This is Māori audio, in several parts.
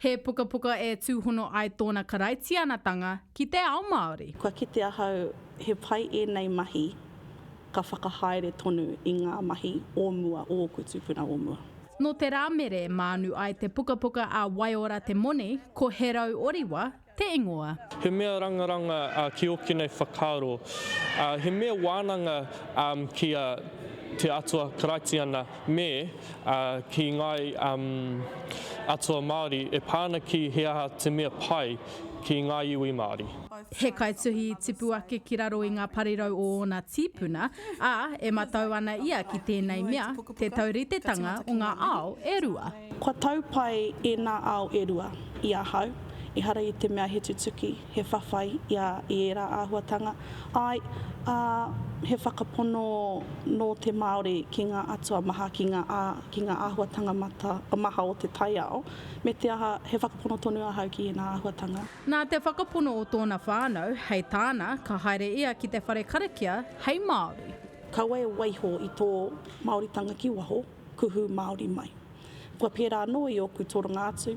He pukapuka e tūhono ai tōna karaitianatanga ki te ao Māori. Kua kite ahau he pai ēnei mahi ka whakahaere tonu i ngā mahi o mua o ōku tūpuna o mua. Nō te Rāmere mānu ai te pukapuka a Waiora Te Moni, ko Herau Oriwa te ingoa. He mea rangaranga ki ōkenei whakaaro, he mea wānanga ki a Te Atua Karaitiana. Me, ā, ki ngāi atua Māori e pā ana ki he aha te mea pai ki ngā iwi Māori. He kaituhi i tipu ake ki raro i ngā parirau o ōna tīpuna, ā, e matau ana ia ki tēnei mea, te tauritetanga o ngā ao e rua. Kua tau pai ēnā ao e rua i ahau, ehara i te mea he tutuki, he whawhai i a i ērā āhuatanga, āe, ā, he whakapono nō te Māori ki ngā atua maha, ki ngā, ā, ki ngā āhuatanga mata, maha o te taiao, me te aha, he whakapono tonu ahau ki ēnā āhuatanga. Nā te whakapono o tōna whānau, hei tāna, ka haere ia ki te whare karakia hei Māori. Kaua e waiho i tō Māoritanga ki waho. kuhu Māori mai. Kua pērā anō i ōku toronga atu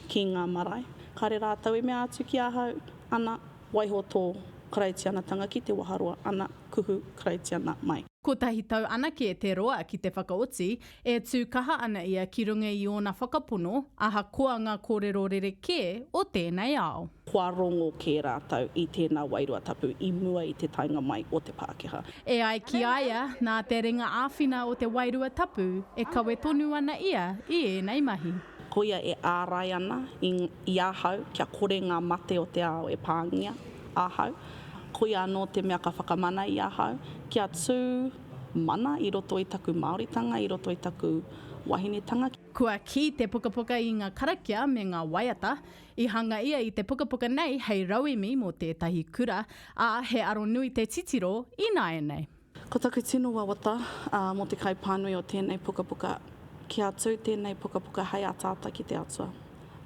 ki ngā marae, kāre rātou e mea atu ki ahau, ana, waiho tō Karaitianatanga ki Te Waharoa, ana, kuhu Karaitiana mai. Kotahi tau anake te roa ki te whakaoti, e tū kaha ana ia ki runga i ōna whakapono, ahakoa ngā kōrero rerekē o tēnei ao. kua rongo kē rātou i tēnā wairua tapu i mua i te taenga mai o te Pākehā. E ai ki a ia, nā te ringa āwhina o te wairua tapu e kawe tonu ana ia i ēnei mahi. Koia e ārai ana i ahau kia kore ngā mate o te ao e pāngia ahau, koia anō te mea ka whakamana i ahau kia tū mana i roto i taku Māoritanga, i roto i taku wahinetanga. Kua kī te pukapuka i ngā karakia me ngā waiata, I hanga ia i te pukapuka nei hei rauemi mō tētahi kura, ā, he aro nui te titiro ināianei. Ko taku tino wawata mō te kaipānui o tēnei pukapuka, kia tū tēnei pukapuka hei ataata ki te Atua,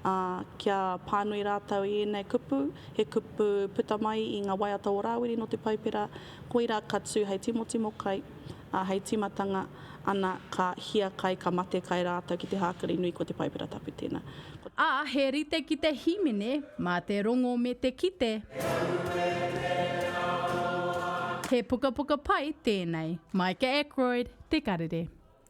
ā, kia pānui rātou i ēnei kupu, he kupu puta mai i ngā waiata o Rāwiri nō te Paipera, koirā ka tū hei timotimo kai, Ā, hei tīmatanga ana ka hiakai, ka mate kai rātou ki te hākari nui ko te Paipera Tapu tēnā. Ko. Ā, he rite ki te hīmene mā te rongo me te kite. He pukapuka pai tēnei. Micah Ackroyd, Te Karere.